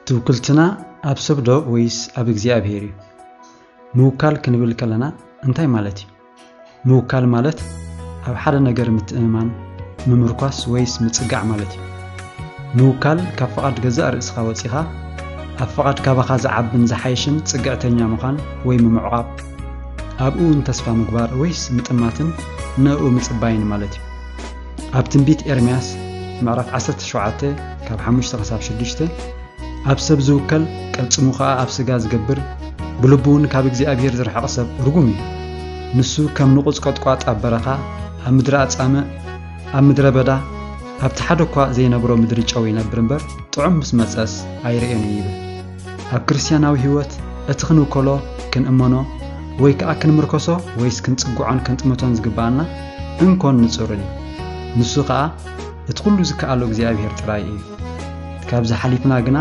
ትውክልትና ኣብ ሰብዶ ወይስ ኣብ እግዚኣብሔር እዩ ምውካል ክንብል ከለና እንታይ ማለት እዩ ምውካል ማለት ኣብ ሓደ ነገር ምትእምማን፣ ምምርኳስ ወይስ ምጽጋዕ ማለት እዩ። ምውካል ካብ ፍቓድ ገዛእ ርእስኻ ወጺኻ ኣብ ፍቓድ ካባኻ ዝዓብን ዝሓይሽን ጽግዕተኛ ምዃን ወይ ምምዕቛብ፣ ኣብኡ ንተስፋ ምግባር ወይስ ምጥማትን ንእኡ ምጽባይን ማለት እዩ። ኣብ ትንቢት ኤርምያስ ምዕራፍ ዓሰርተ ሸውዓተ ካብ ሓሙሽተ ክሳብ ሽዱሽተ፣ ኣብ ሰብ ዝውከል ቀልጽሙ ኸኣ ኣብ ስጋ ዝገብር ብልቡውን ካብ እግዚኣብሔር ዝርሓቐ ሰብ ርጉም እዩ። ንሱ ከም ንቑጽ ቆጥቋጥ ኣብ በረኻ ኣብ ምድሪ ኣጻምእ ኣብ ምድረ በዳ ኣብቲ ሓደ እኳ ዘይነብሮ ምድሪ ጨው ይነብር እምበር ጥዑም ምስ መጸስ ኣይርእዮን እዩ ይብል። ኣብ ክርስትያናዊ ህይወት እቲ ክንውከሎ ክንእመኖ ወይ ከዓ ክንምርኮሶ ወይስ ክንጽግዖን ክንጥምቶን ዝግብኣና እንኮን ንጹርን እዩ። ንሱ ከዓ እቲ ኩሉ ዝከኣሎ እግዚኣብሔር ጥራይ እዩ። ካብዚ ሓሊፍና ግና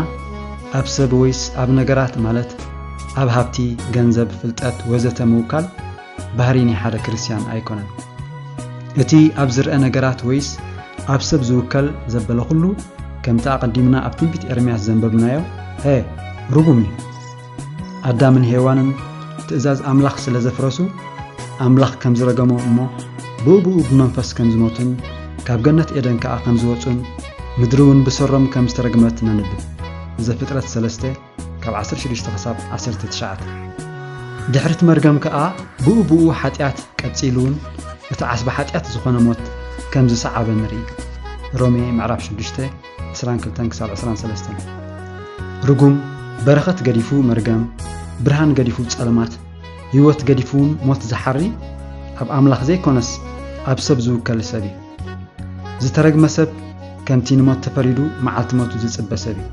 ኣብ ሰብ ወይስ ኣብ ነገራት ማለት ኣብ ሃብቲ፣ ገንዘብ፣ ፍልጠት ወዘተ ምውካል ባህሪ ናይ ሓደ ክርስትያን ኣይኮነን። እቲ ኣብ ዝርኣ ነገራት ወይስ ኣብ ሰብ ዝውከል ዘበለ ኩሉ ከምቲ ኣቐዲምና ኣብ ትንቢት ኤርምያስ ዘንበብናዮ፣ ሀ፣ ርጉም እዩ። ኣዳምን ሄዋንን ትእዛዝ ኣምላኽ ስለ ዘፍረሱ ኣምላኽ ከም ዝረገሞም እሞ ብኡብኡ ብመንፈስ ከም ዝሞቱን ካብ ገነት ኤደን ከኣ ከም ዝወጹን ምድሪ እውን ብሰሮም ከም ዝተረግመት ነንብብ ዘፍጥረት 3 ካብ 16 ክሳብ 19 ድሕሪ እቲ መርገም ከኣ ብኡብኡ ሓጢኣት ቀጺሉውን እቲ ዓስቢ ሓጢኣት ዝኾነ ሞት ከም ዝሰዓበ ንርኢ ሮሜ ምዕራፍ 6 22-23 ርጉም በረኸት ገዲፉ መርገም ብርሃን ገዲፉ ጸልማት ህይወት ገዲፉ ሞት ዝሓሪ ኣብ ኣምላኽ ዘይኮነስ ኣብ ሰብ ዝውከል ሰብ እዩ ዝተረግመ ሰብ ከምቲ ንሞት ተፈሪዱ መዓልቲ ሞቱ ዝጽበ ሰብ እዩ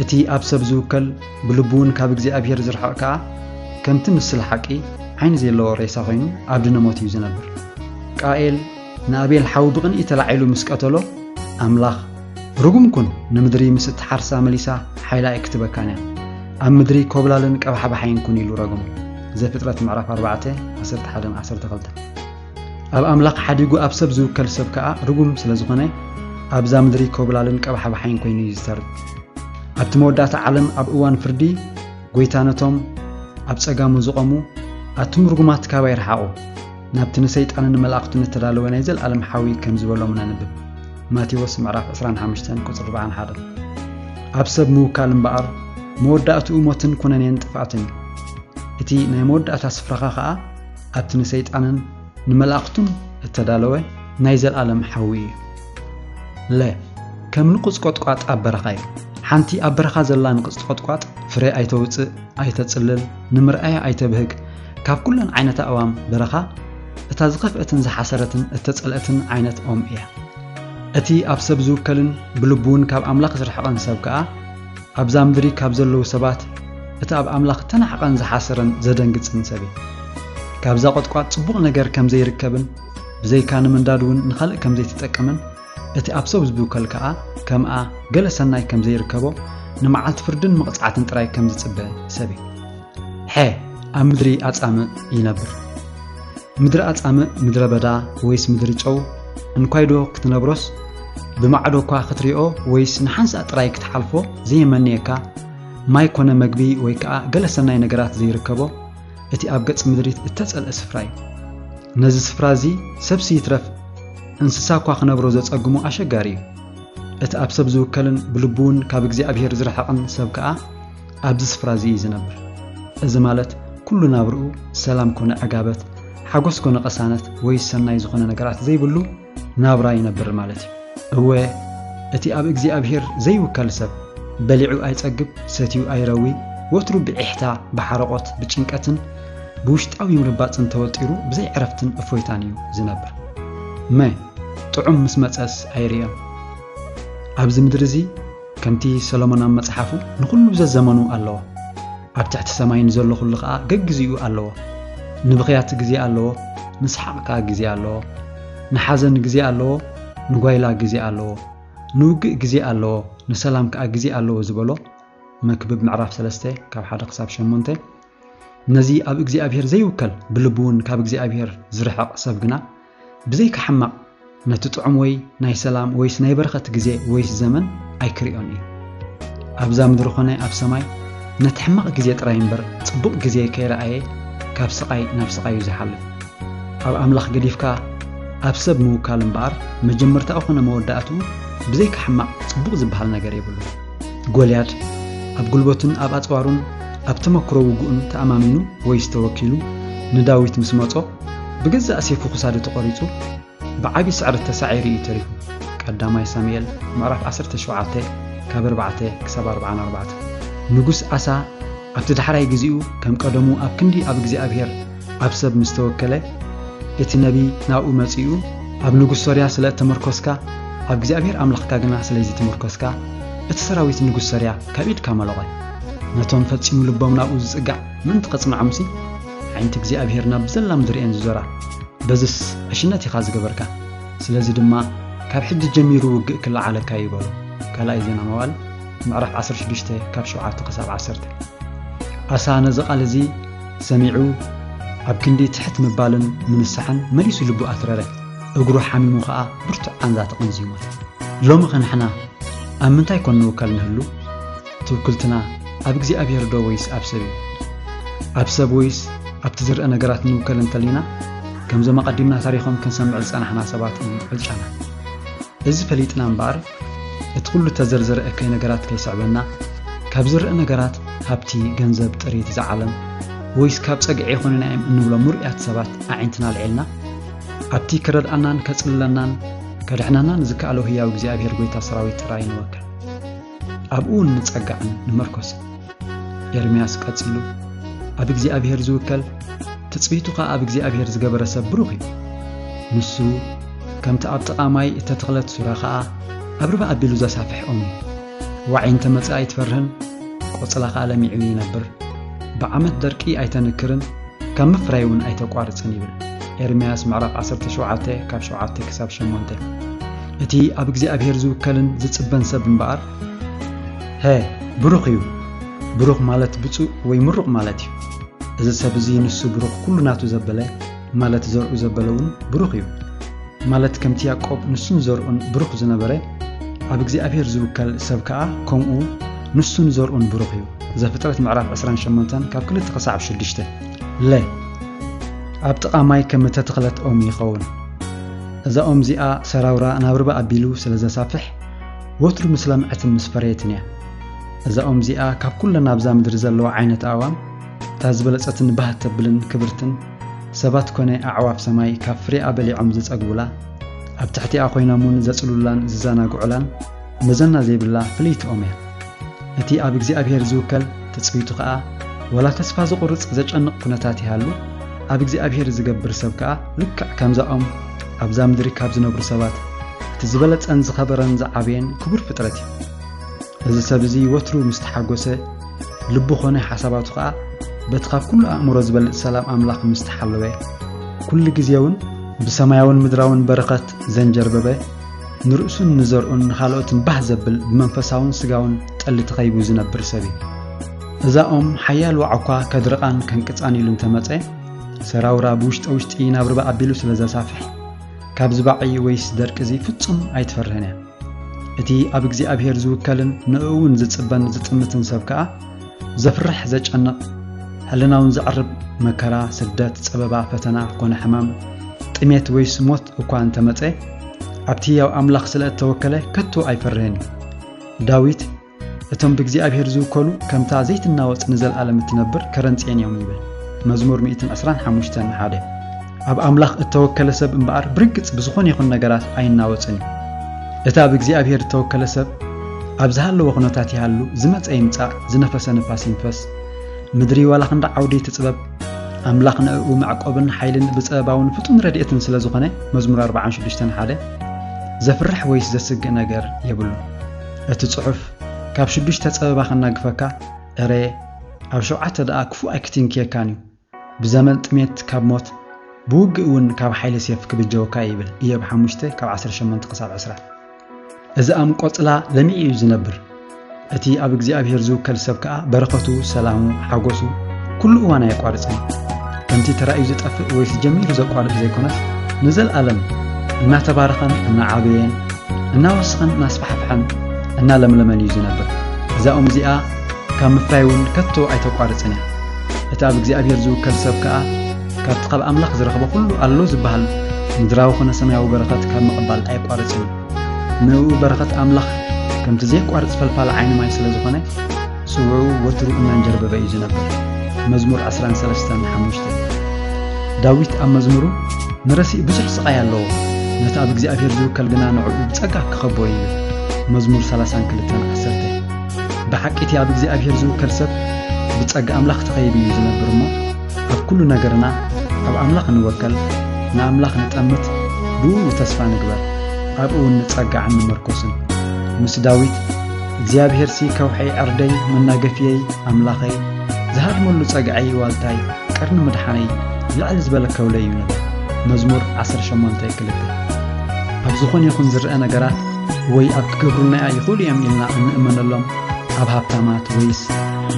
እቲ ኣብ ሰብ ዝውከል ብልቡ እውን ካብ እግዚኣብሄር ዝርሕቕ ከኣ ከምቲ ምስል ሓቂ ዓይኒ ዘለዎ ሬሳ ኮይኑ ኣብ ድነ ሞት እዩ ዝነብር ቃኤል ንኣቤል ሓዉ ብቕንኢ ተላዒሉ ምስ ቀተሎ ኣምላኽ ርጉም ኩን ንምድሪ ምስ እትሓርሳ መሊሳ ሓይላ ኣይክትበካን እያ ኣብ ምድሪ ኮብላልን ቀባሕባሓይን ኩን ኢሉ ረገሞ ዘፍጥረት ምዕራፍ 4 11 12 ኣብ ኣምላኽ ሓዲጉ ኣብ ሰብ ዝውከል ሰብ ከኣ ርጉም ስለ ዝኾነ ኣብዛ ምድሪ ኮብላልን ቀባሕባሓይን ኮይኑ እዩ ዝተርፍ ኣብቲ መወዳእታ ዓለም ኣብ እዋን ፍርዲ ጐይታ ነቶም ኣብ ጸጋሙ ዝቖሙ ኣቱም ርጉማት ካባይ ረሓቑ ናብቲ ንሰይጣንን መላእኽቱን እተዳለወ ናይ ዘለኣለም ሓዊ ከም ዝበሎም ነንብብ። ማቴዎስ ምዕራፍ 25 ቁጽሪ 41 ኣብ ሰብ ምውካል እምበኣር መወዳእትኡ ሞትን ኩነኔን ጥፍኣትን እዩ። እቲ ናይ መወዳእታ ስፍራኻ ኸኣ ኣብቲ ንሰይጣንን ንመላእኽቱን እተዳለወ ናይ ዘለኣለም ሓዊ እዩ። ለ ከም ንቑጽ ቆጥቋጥ ኣብ በረኻ እዩ። ሓንቲ ኣብ በረኻ ዘላ ንቕጽቲ ቆጥቋጥ ፍረ ኣይተውጽእ፣ ኣይተጽልል፣ ንምርኣያ ኣይተብህግ፣ ካብ ኩለን ዓይነት ኣእዋም በረኻ እታ ዝኸፍኤትን ዝሓሰረትን እተጸልኤትን ዓይነት ኦም እያ። እቲ ኣብ ሰብ ዝውከልን ብልቡውን ካብ ኣምላኽ ዝርሕቐን ሰብ ከኣ፣ ኣብዛ ምድሪ ካብ ዘለዉ ሰባት እቲ ኣብ ኣምላኽ እተናሕቐን ዝሓሰረን ዘደንግጽን ሰብ እዩ። ካብዛ ቈጥቋጥ ጽቡቕ ነገር ከም ዘይርከብን ብዘይካ ንምንዳድ እውን ንኻልእ ከም ዘይትጠቅምን እቲ ኣብ ሰብ ዝብከል ከኣ ከምኣ ገለ ሰናይ ከም ዘይርከቦ ንመዓልቲ ፍርድን መቕጻዕትን ጥራይ ከም ዝጽበ ሰብ እዩ። ሐ ኣብ ምድሪ ኣጻምእ ይነብር። ምድሪ ኣጻምእ ምድረ በዳ ወይስ ምድሪ ጨው እንኳይዶ ክትነብሮስ ብማዕዶ እኳ ክትሪኦ ወይስ ንሓንሳእ ጥራይ ክትሓልፎ ዘየመንየካ ማይ ኮነ መግቢ ወይ ከዓ ገለ ሰናይ ነገራት ዘይርከቦ እቲ ኣብ ገጽ ምድሪት እተጸልአ ስፍራ እዩ። ነዚ ስፍራ እዚ ሰብሲ ይትረፍ እንስሳ እኳ ክነብሮ ዘጸግሞ ኣሸጋሪ እዩ። እቲ ኣብ ሰብ ዝውከልን ብልቡውን ካብ እግዚኣብሔር ዝረሐቕን ሰብ ከዓ ኣብዚ ስፍራ እዚ እዩ ዝነብር። እዚ ማለት ኩሉ ናብርኡ ሰላም ኮነ ዕጋበት፣ ሓጎስ ኮነ ቐሳነት ወይ ሰናይ ዝኾነ ነገራት ዘይብሉ ናብራ ይነብር ማለት እዩ። እወ እቲ ኣብ እግዚኣብሄር ዘይውከል ሰብ በሊዑ ኣይጸግብ ሰትዩ ኣይረዊ ወትሩ ብዒሕታ ብሓረቖት ብጭንቀትን ብውሽጣዊ ምርባጽን ተወጢሩ ብዘይ ዕረፍትን እፎይታን እዩ ዝነብር። መ ጥዑም ምስ መጸስ ኣይርእዮን። ኣብዚ ምድሪ እዚ ከምቲ ሰሎሞን ኣብ መጽሓፉ ንዅሉ ዘዘመኑ ኣለዎ፣ ኣብ ትሕቲ ሰማይ ንዘሎ ዅሉ ኸኣ ገጊዜኡ ኣለዎ፣ ንብኽያት ግዜ ኣለዎ፣ ንስሓቕ ከኣ ግዜ ኣለዎ፣ ንሓዘን ግዜ ኣለዎ፣ ንጓይላ ግዜ ኣለዎ፣ ንውግእ ግዜ ኣለዎ፣ ንሰላም ከኣ ግዜ ኣለዎ ዝበሎ፣ መክብብ ምዕራፍ ሰለስተ ካብ ሓደ ክሳብ ሸሞንተ፣ ነዚ ኣብ እግዚኣብሄር ዘይውከል ብልቡውን ካብ እግዚኣብሄር ዝርሕቕ ሰብ ግና፣ ብዘይካ ሕማቕ ነቲ ጥዑም ወይ ናይ ሰላም ወይስ ናይ በረኸት ግዜ ወይስ ዘመን ኣይክሪኦን እዩ። ኣብዛ ምድሪ ኮነ ኣብ ሰማይ ነቲ ሕማቕ ግዜ ጥራይ እምበር ጽቡቕ ግዜ ከይረኣየ ካብ ስቓይ ናብ ስቓይ እዩ ዝሓልፍ። ኣብ ኣምላኽ ገዲፍካ ኣብ ሰብ ምውካል እምበኣር መጀመርታኡ ኮነ መወዳእትኡ ብዘይካ ሕማቕ ጽቡቕ ዝበሃል ነገር የብሉን። ጎልያድ ኣብ ጉልበቱን ኣብ ኣጽዋሩን ኣብ ተመክሮ ውግኡን ተኣማሚኑ ወይስ ተወኪሉ ንዳዊት ምስ መጾ ብገዛእ ሴፉ ክሳዱ ተቖሪጹ ብዓቢ ስዕረት ተሳዒሩ እዩ ተሪፉ ቀዳማይ ሳሙኤል ምዕራፍ 17 ካብ 4 ክሳብ 44 ንጉስ ኣሳ ኣብቲ ዳሕራይ ግዜኡ ከም ቀደሙ ኣብ ክንዲ ኣብ እግዚኣብሄር ኣብ ሰብ ምስ ተወከለ፣ እቲ ነብዪ ናብኡ መጺኡ፣ ኣብ ንጉስ ሶርያ ስለ እተመርኰስካ፣ ኣብ እግዚኣብሄር ኣምላኽካ ግና ስለ ዚተመርኰስካ፣ እቲ ሰራዊት ንጉስ ሶርያ ካብ ኢድካ መሎቐ። ነቶም ፈጺሙ ልቦም ናብኡ ዚጽጋዕ ምእንቲ ኼጽንዖምሲ፣ ኣዒንቲ እግዚኣብሄር ናብ ዘላ ምድሪ እየን ዚዞራ። በዝስ ዕሽነት ኢኻ ዝገበርካ፣ ስለዚ ድማ ካብ ሕጂ ጀሚሩ ውግእ ኪለዓለካ እዩ በሎ። ካልኣይ ዜና መዋዕል ምዕራፍ ዓሰርተ ሽዱሽተ ካብ ሸውዓተ ኽሳብ ዓሰርተ። ኣሳ ነዚ ቓል እዚ። ሰሚዑ ኣብ ክንዲ ትሕት ምባልን ምንሳሕን መሊሱ ልቡ ኣትረረ። እግሩ ሓሚሙ ከኣ ብርቱዕ ቃንዛ ተቐንዝዩማ። ሎሚ ከ ንሕና ኣብ ምንታይ ኮን ንውከል ንህሉ? ትውክልትና ኣብ እግዚኣብሔር ዶ ወይስ ኣብ ሰብ እዩ? ኣብ ሰብ ወይስ ኣብቲ ዝርኣ ነገራት ንውከል እንተሊና ከምዞም ኣቐዲምና ታሪኾም ክንሰምዕ ዝጸናሕና ሰባት እዩ ዕጫና። እዚ ፈሊጥና እምበኣር እቲ ኩሉ እተዘርዘረ እከይ ነገራት ከይስዕበና፣ ካብ ዝርእ ነገራት፣ ሃብቲ፣ ገንዘብ፣ ጥሪት እዛ ዓለም፣ ወይስ ካብ ጸግዒ ኾኒና እዮም እንብሎም ምርኡያት ሰባት ኣዒንትና ኣልዒልና፣ ኣብቲ ከረድኣናን ከጽልለናን ከድሕነናን ዝከኣሎ ህያው እግዚኣብሄር ጐይታ ሰራዊት ጥራይ ንወከል። ኣብኡ ንጸጋዕን ንመርኰስን። ኤርምያስ ቀጺሉ ኣብ እግዚኣብሔር ዝውከል ትጽቢቱ ኸኣ ኣብ እግዚኣብሔር ዝገበረ ሰብ ብሩኽ እዩ ንሱ ከምቲ ኣብ ጥቓ ማይ እተተኽለት ሱራ ኸኣ ኣብ ርባ ኣቢሉ ዘሳፍሕ ኦም እዩ ዋዒ እንተ መጽ ኣይትፈርህን ቆጽላ ኸኣ ለሚዑ ይነብር ብዓመት ደርቂ ኣይተንክርን ካብ ምፍራይ እውን ኣይተቋርጽን ይብል ኤርምያስ ምዕራፍ 17 ካብ 7 ክሳብ 8 እቲ ኣብ እግዚኣብሔር ዝውከልን ዝጽበን ሰብ እምበኣር ሀ ብሩኽ እዩ ብሩኽ ማለት ብፁእ ወይ ምሩቕ ማለት እዩ እዚ ሰብ እዚ ንሱ ብሩኽ ኩሉ ናቱ ዘበለ ማለት ዘርኡ ዘበለ እውን ብሩኽ እዩ ማለት ከምቲ ያዕቆብ ንሱን ዘርኡን ብሩኽ ዝነበረ ኣብ እግዚኣብሔር ዝውከል ሰብ ከዓ ከምኡ ንሱን ዘርኡን ብሩኽ እዩ ዘፍጥረት ምዕራፍ 28 ካብ 2 ክሳብ 6 ለ ኣብ ጥቓ ማይ ከም እተተኽለት ኦም ይኸውን እዛ ኦም እዚኣ ሰራውራ ናብ ርባ ኣቢሉ ስለ ዘሳፍሕ ወትሩ ምስ ለምዐትን ምስ ፈረየትን እያ። እዛ ኦም እዚኣ ካብ ኩለን ኣብዛ ምድሪ ዘለዋ ዓይነት ኣእዋም እታ ዝበለጸትን ባህ ተብልን ክብርትን ሰባት ኮነ ኣዕዋፍ ሰማይ ካብ ፍሬኣ በሊዖም ዝጸግቡላ ኣብ ትሕቲኣ ኮይኖም እውን ዘጽሉላን ዝዘናግዑላን መዘና ዘይብላ ፍልይቲ ኦም እያ። እቲ ኣብ እግዚኣብሔር ዝውከል ትጽቢቱ ከኣ ወላ ተስፋ ዘቑርጽ ዘጨንቕ ኩነታት ይሃሉ ኣብ እግዚኣብሔር ዝገብር ሰብ ከኣ ልክዕ ከምዛኦም ኣብዛ ምድሪ ካብ ዝነብሩ ሰባት እቲ ዝበለጸን ዝኸበረን ዝዓበየን ክቡር ፍጥረት እዩ። እዚ ሰብ እዚ ወትሩ ምስ ተሓጎሰ ልቡ ኾነ ሓሳባቱ ከኣ በቲ ካብ ኩሉ ኣእምሮ ዝበልጽ ሰላም ኣምላኽ ምስ ተሓለወ ኩሉ ግዜ እውን ብሰማያውን ምድራውን በረኸት ዘንጀርበበ ንርእሱን ንዘርኡን ንኻልኦትን ባህ ዘብል ብመንፈሳውን ስጋውን ጠሊ ተኸይቡ ዝነብር ሰብ እዩ። እዛ ኦም ሓያል ዋዕ እኳ ከድርቓን ከንቅጻን ኢሉ እንተመጸ፣ ሰራውራ ብውሽጠ ውሽጢ ናብ ርባ ኣቢሉ ስለ ዘሳፍሕ፣ ካብዚ ባዒ ወይስ ደርቂ'ዚ ፍጹም ኣይትፈርህን እያ። እቲ ኣብ እግዚኣብሄር ዝውከልን ንእኡ'ውን ዝጽበን ዝጥምትን ሰብ ከኣ፣ ዘፍርሕ ዘጨንቕ ሕልና'ውን ዘዕርብ መከራ፣ ስደት፣ ጸበባ፣ ፈተና፣ ኮነ ሕማም፣ ጥሜት ወይስ ሞት፣ እኳ እንተ መጸ ኣብቲ ሕያው ኣምላኽ ስለ እተወከለ ከቶ ኣይፈርህን እዩ። ዳዊት እቶም ብእግዚኣብሔር ዝውከሉ ከምታ ዘይትናወጽ ንዘለኣለም እትነብር ከረን ጽዮን እዮም ይብል መዝሙር 125 1 ኣብ ኣምላኽ እተወከለ ሰብ እምበኣር ብርግጽ ብዝኾነ ይኹን ነገራት ኣይናወጽን እዩ። እቲ ኣብ እግዚኣብሔር እተወከለ ሰብ ኣብ ዝሃለዎ ኩነታት ይሃሉ፣ ዝመጸ ይምጻእ፣ ዝነፈሰ ንፋስ ይንፈስ፣ ምድሪ ዋላ ክንዲ ዓውዲ ትጽበብ፣ ኣምላኽ ንእኡ መዕቆብን ሓይልን ብጸበባውን ፍጹም ረድኤትን ስለ ዝኾነ መዝሙር ኣርብዓን ሽዱሽተን ሓደ ዘፍርሕ ወይስ ዘስግእ ነገር የብሉ እቲ ጽሑፍ ካብ ሽዱሽተ ጸበባ ከናግፈካ እረ ኣብ ሸውዓተ ደኣ ክፉእ ኣይክትንክየካን እዩ ብዘመን ጥሜት ካብ ሞት ብውግእ እውን ካብ ሓይሊ ሴፍ ክብጀወካ ይብል እዮብ ሓሙሽተ ካብ ዓሰርተ ሸሞንተ ክሳብ ዕስራ እዚ ኣም ቆጽላ ለሚዑ እዩ ዝነብር እቲ ኣብ እግዚኣብሔር ዝውከል ሰብ ከኣ በረኸቱ ሰላሙ ሓጎሱ ኩሉ እዋን ኣየቋርጽን ከምቲ ተራእዩ ዝጠፍእ ወይስ ጀሚሩ ዘቋርጽ ዘይኮነስ ንዘለኣለም እናተባረኸን እናዓበየን እናወስኸን እናስፋሕፍሐን እናለምለመን እዩ ዝነብር እዛ ኦም እዚኣ ካብ ምፍራይ እውን ከቶ ኣይተቋርጽን እያ እቲ ኣብ እግዚኣብሔር ዝውከል ሰብ ከኣ ካብቲ ካብ ኣምላኽ ዝረኽቦ ኩሉ ኣሎ ዝበሃል ምድራዊ ኮነ ሰማያዊ በረኸት ካብ ምቕባል ኣየቋርጽን ንኡ በረኸት ኣምላኽ ከምቲ ዘየቋርጽ ፈልፋል ዓይኒ ማይ ስለ ዝኾነ ጽውዑ ወትሩ እናንጀርበበ እዩ ዝነብር መዝሙር 13 5 ዳዊት ኣብ መዝሙሩ ንረሲእ ብዙሕ ስቓይ ኣለዎ ነቲ ኣብ እግዚኣብሔር ዝውከል ግና ንዕኡ ብጸጋ ክኸቦ እዩ መዝሙር 32 10 ብሓቂ እቲ ኣብ እግዚኣብሔር ዝውከል ሰብ ብጸጋ ኣምላኽ ተኸይዱ እዩ ዝነብር እሞ ኣብ ኩሉ ነገርና ኣብ ኣምላኽ ንወከል፣ ንኣምላኽ ንጠምት፣ ብኡ ተስፋ ንግበር፣ ኣብኡ እውን ንጸጋዕን ንመርኮስን። ምስ ዳዊት እግዚኣብሔርሲ ከውሒ ዕርደይ መናገፍየይ ኣምላኸይ ዝሃድመሉ ጸግዐይ ዋልታይ ቀርኒ ምድሓነይ ልዕል ዝበለ ከውለ እዩ ነበር መዝሙር 18 ክልተ ኣብ ዝኾነ ይኹን ዝርአ ነገራት ወይ ኣብ ክገብሩልና ይኽእሉ እዮም ኢልና እንእመነሎም ኣብ ሃብታማት ወይስ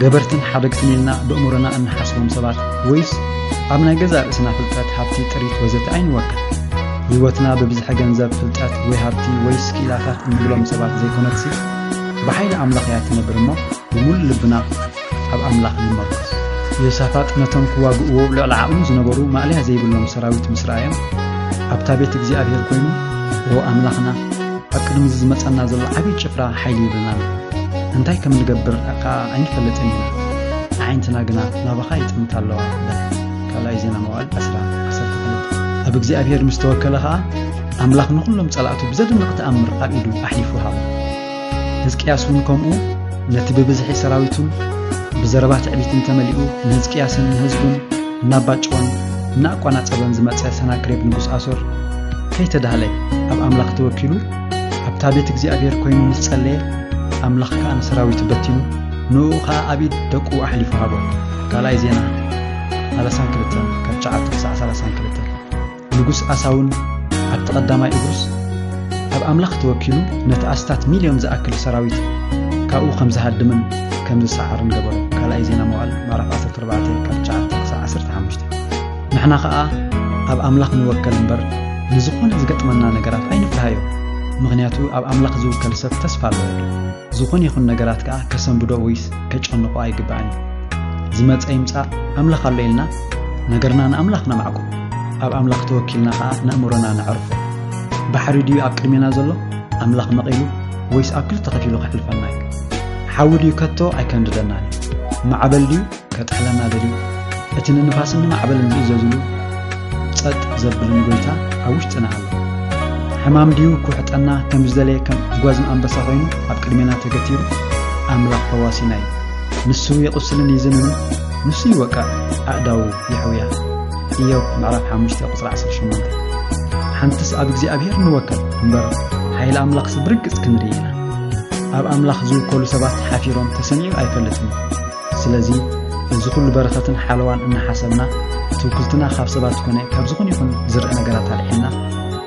ገበርትን ሓደግትን ኢልና ብእምሮና እንሓስቦም ሰባት ወይስ ኣብ ናይ ገዛ ርእስና ፍልጠት ሃብቲ ጥሪት ወዘተ ኣይንወከል ህይወትና ብብዝሒ ገንዘብ ፍልጠት ወይ ሃብቲ ወይስ ክኢላታት እንብሎም ሰባት ዘይኮነትሲ ብሓይሊ ኣምላኽ እያ ትነብር እሞ ብምሉእ ልብና ኣብ ኣምላኽ ንመርኮስ የሳፋጥ ነቶም ክዋግእዎ ልዕሊ ዓቕሙ ዝነበሩ ማእለያ ዘይብሎም ሰራዊት ምስ ረኣዮም ኣብታ ቤት እግዚኣብሄር ኮይኑ ኦ ኣምላኽና ኣብ ቅድሚዚ ዝመጸና ዘሎ ዓብዪ ጭፍራ ሓይሊ የብልናን፣ እንታይ ከም ንገብር ከኣ ኣይንፈልጥን ኢና፣ ኣዒንትና ግና ናባኻ ይጥምታ ኣለዋ በለ። ካልኣይ ዜና መዋዕል ዕስራ ዓሰርተ ክልተ ኣብ እግዚኣብሄር ምስ ተወከለ ኸኣ ኣምላኽ ንዅሎም ጸላእቱ ብዘደንቕ ተኣምር ኣብ ኢዱ ኣሕሊፉ ሃቦ። ህዝቅያስ እውን ከምኡ ነቲ ብብዝሒ ሰራዊቱን ብዘረባ ትዕቢትን ተመሊኡ ንህዝቅያስን ንህዝቡን እናባጨወን እናኣቋናጸበን ዝመጸ ሰናክሬብ ንጉስ ኣሶር ከይተዳህለ ኣብ ኣምላኽ ተወኪሉ ኣብታ ቤት እግዚኣብሔር ኮይኑ ምስ ጸለየ ኣምላኽ ከኣ ንሰራዊቱ በቲኑ ንኡ ከኣ ኣብ ኢድ ደቁ ኣሕሊፉ ሃቦ ካልኣይ ዜና 32 ካብ 9 ክሳዕ 32 ንጉስ ኣሳውን ኣብቲ ቀዳማይ እግሩስ ኣብ ኣምላኽ ተወኪሉ ነቲ ኣስታት ሚልዮን ዝኣክል ሰራዊት ካብኡ ከም ዝሃድምን ከም ዝሰዓርን ገበሮ ካልኣይ ዜና መዋዕል ምዕራፍ 14 ካብ 9 ክሳብ 15 ንሕና ከኣ ኣብ ኣምላኽ ንወከል እምበር ንዝኾነ ዝገጥመና ነገራት ኣይንፍርሃዮ ምኽንያቱ ኣብ ኣምላኽ ዝውከል ሰብ ተስፋ ኣለዎ ዝኾነ ይኹን ነገራት ከኣ ከሰንብዶ ወይስ ከጨንቆ ኣይግባእን እዩ ዝመፀ ይምፃእ ኣምላኽ ኣሎ ኢልና ነገርና ንኣምላኽ ነማዕቁ ኣብ ኣምላኽ ተወኪልና ከኣ ነእምሮና ነዕርፎ ባሕሪ ድዩ ኣብ ቅድሜና ዘሎ ኣምላኽ መቒሉ ወይስ ኣብ ክልተ ከፊሉ ከሕልፈና እዩ ሓዊ ድዩ ከቶ ኣይከንድደናን እዩ ማዕበል ድዩ ከጥሕለና ደልዩ እቲ ንንፋስን ንማዕበልን ዝእዘዝሉ ጸጥ ዘብልን ጎይታ ኣብ ውሽጥና ኣሎ። ሕማም ድዩ ክውሕጠና ከም ዝደለየ ከም ዝጓዝም ኣንበሳ ኮይኑ ኣብ ቅድሜና ተገቲሩ ኣምላኽ ፈዋሲና እዩ። ንሱ የቑስልን ይዝንን፣ ንሱ ይወቅዕ ኣእዳዉ የሕውያ። ኢዮብ ምዕራፍ 5 ቁጽሪ 18 ሓንትስ ኣብ እግዚኣብሔር ንወከል እምበር ሓይሊ ኣምላኽሲ ብርግጽ ክንርኢ ኢና። ኣብ ኣምላኽ ዝውከሉ ሰባት ሓፊሮም ተሰሚዑ ኣይፈልጥን። ስለዚ እዚ ኩሉ በረኸትን ሓለዋን እናሓሰብና ትውክልትና ካብ ሰባት ኮነ ካብ ዝኾነ ይኹን ዝርእ ነገራት ኣልዒልና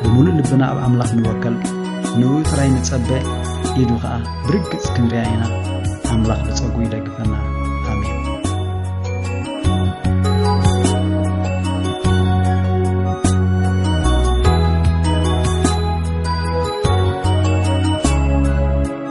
ብምሉእ ልብና ኣብ ኣምላኽ ንወከል ንኡ ጥራይ ንጸበ ኢዱ ኸኣ ብርግጽ ክንሪያ ኢና ኣምላኽ ብጸጉ ይደግፈና